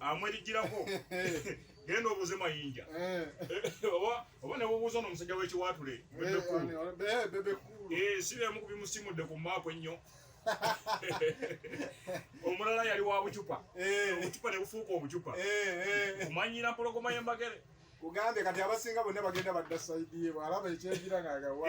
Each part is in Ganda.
amwerijjirako genda obuuze mayinja eh. oba nebubuuza ono omusajja w'ekiwaatule si bemu ku bimusimudde ku maaku ennyo omulala yali wa bucupa obucupa ne bufuuka obucupa kumanyira mpologoma y'embagere kugambye kati abasinga bonna bagenda badda saidi ye bwalaba ekyenjira ng'agawa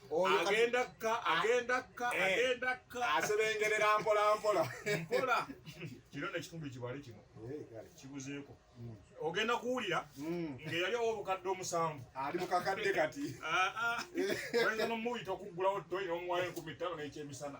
agenda kka agenda kka eh, agenda kka asebengerera mpola mpola mpola kiro nekitundu kibale kino eh, kibuzeeko hmm. ogenda kuwulira hmm. ngeyali owo obukadde omusanvu ali mukakadde kati ah, ah. oyinza nomuyita okuggulawo toyina omuwayo enkumi ttaano nekyemisana